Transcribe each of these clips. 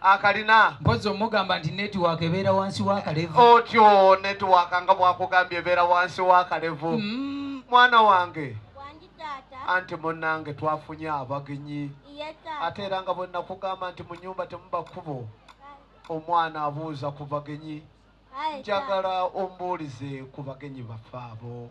akalina mpozi omugamba nti network ebeera wansi wakalevu otyo network nga bwakugambye ebeera wansi wakalevu mm. mwana wange anti munange twafunye abagenyi ate era nga bwenakugamba nti mu nyumba temuba kkubo omwana abuuza ku bagenyi njagala ombuulize ku bagenyi baffe abo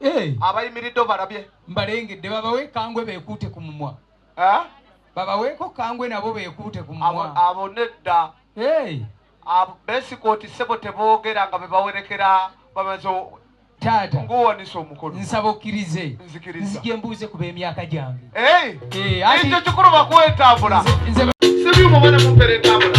eh. abayimiridde obalabye mbalengedde babawe kangwe bekuute ku mumwa eh? babaweeko kangwe nabo bekuute ku mumwa abo nedda eh. besikooti sebo teboogera nga bebawerekera bamaze taata nguwanisa omukono nsaba okkirize nzikiriza nzije mbuuze ku b'emyaka gyange ekyo kikulu bakuwa entambula nze sibyuma bana mumpera entambula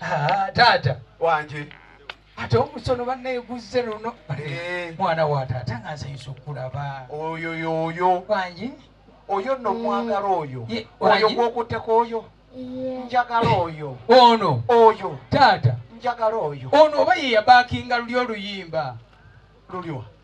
Ah, taata wanje ate omusono banneeguzze luno eh. mwana wa taata nga nsanyusa okulaba oyo yoyo wangi oyo nno omwagala oyo oyo gwokutteko oyo njagala oyo ono oyo taata njagala oyo ono oba yeyabakinga luli oluyimba luliwa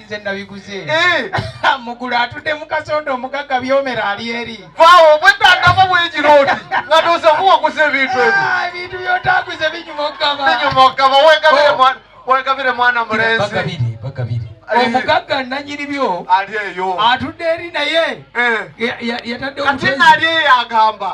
nze nabiguze eh. mugulu atudde mukasonda omugagga byomera ali eri vawo bwetandako bwegiroti nga noza muwaguza ebintu ebyo ah, ebintu byotaguze binyuma okugaba binyuma okugaba wegabire oh. mwana mulenzi bagabire eh. omugagga nanyini byo ali eyo atudde eri naye eh. yatadde kati nali eyo agamba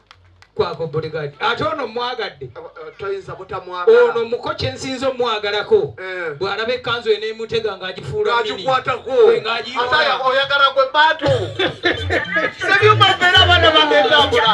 kwako bodyguard ate ono mwagadde eh, eh, toyinza butamwagala ono muko kyensinza omwagalako eh. bw'alaba ekkanzu eno emutega ng'agifuula agikwatako oyagala gwe bantu sebyuma mbeera abaana bagezabula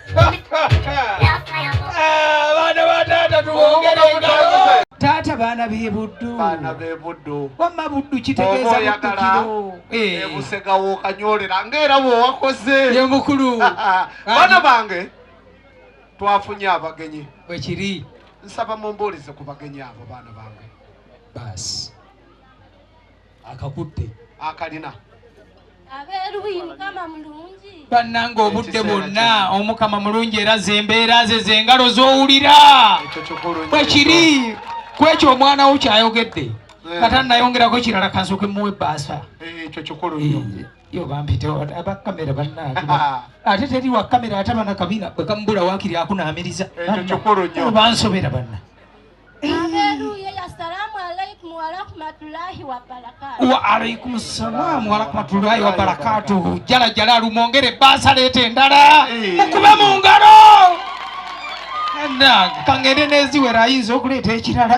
taata baana bebuddu wamma buddu kitegeeza buddukiro eh. ebusega wokanyolera ngaera bwewakoze ye mukulu baana bange twafunye abagenyi bwekiri nsaba mumbuulize ku bagenyi abo baana bange baasi akakutte akalina abeeruyi mukama mulungi bannanga obudde bwonna omukama mulungi era zembeera ze zengalo zowulira bwekiri kwekyo omwana wo kyayogedde eh. kata nayongerako kirala kansoke muwa ebbaasa eh, ekyo kikulu nnyo eh, yo bampitewo abakamera bannange ate teri wakamera ate abana kabina bwekamubula wakiri akunaamiriza ekyo kikulu nnyo bansobera banna wa alaikum salam warahmatullahi wabarakatuhu jala jala lumwongere basa leta endala eh. mukube mu ngalo kangende neziwera ayinza okuleeta ekirala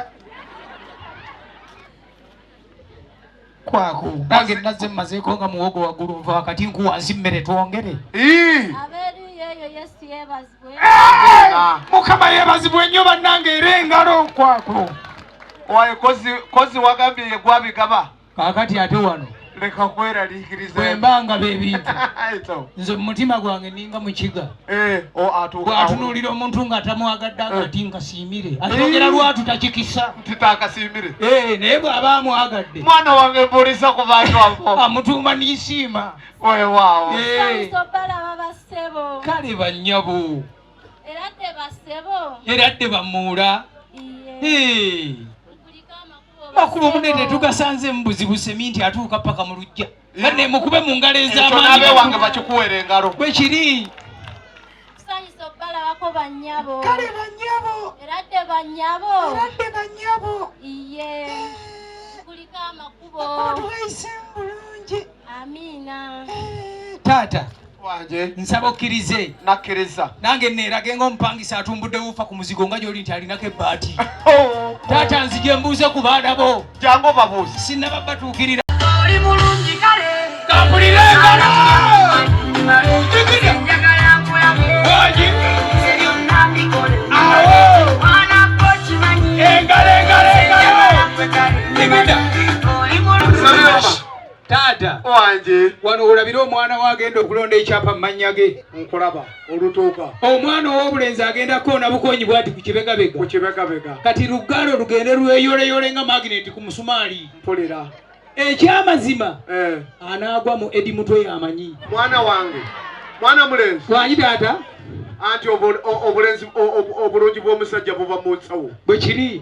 kwako nange nazze mumazeeko nga muwogo waggulu nva wakati nku wansi mmere twongere mukama yeebazibwe nnyo bannange era engalo kwako waye kozi wagambye yegwabigaba kakati ate wano leka kweraliikiriza bwemba nga bebintu nze mumutima gwange ninga mukiga Eh, bwatunulira omuntu nga atamwagadde aga nti eh. nkasiimire ayogera eh. lwatu takikisa titakasiimire naye bw'aba amwagadde mwana wange mbuliza ku bantu abo amutuuma nisiima wewaawo kale bannyabo era dde bamuula makuba omunene tugasanze mu buzibu semi nti atuuka paka mu lujja kale mukube mu ngalo ez'amaanyi wange bakikuwere engalo bwe kiri tusanyusa okubalabako bannyabo kale bannyabo era dde bannyabo era dde bannyabo iye kuliko amakubo omuntu wayise mu bulungi amiina eh, taata nsaba okkirize nakkiriza nange neerage nga omupangisa atumbudde wuufa ku muzigo nga gyoli nti alinako ebbaati oh. taata nzije mbuuze ku baana bo jangu obabuuzi sinnaba batuukirira oli mulungi kale kampulire engalo taata wange wano olabira omwana wo agenda okulonda ekyapa mu mannya ge nkulaba olutuuka omwana ow'obulenzi agenda koona bukonyi bwati ku kibegabega ku kibegabega kati luggalo lugende lweyoleyole nga magineti ku musumaali mpulira ekyamazima eh. anaagwa mu edi mutwe yamanyi mwana wange mwana mulenzi wanyi taata anti obulenzi obulungi bw'omusajja buba mu nsawo bwe kiri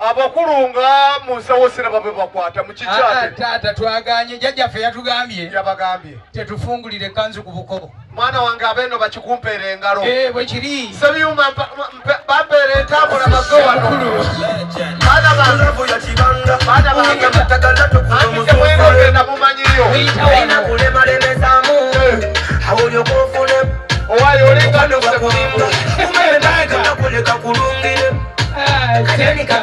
abakulu nga mu nsawo siraba bwe bakwata mu kikyate taata twaganye jjajjaffe yatugambye yabagambye tetufungulire kanzu ku buko mwana wange abeeno bakikumpeera engalo eh, bwe kiri sebyuma bampeera entambula baze wano baana bangebaana mumanyiyo owayo olenga nokusekulunga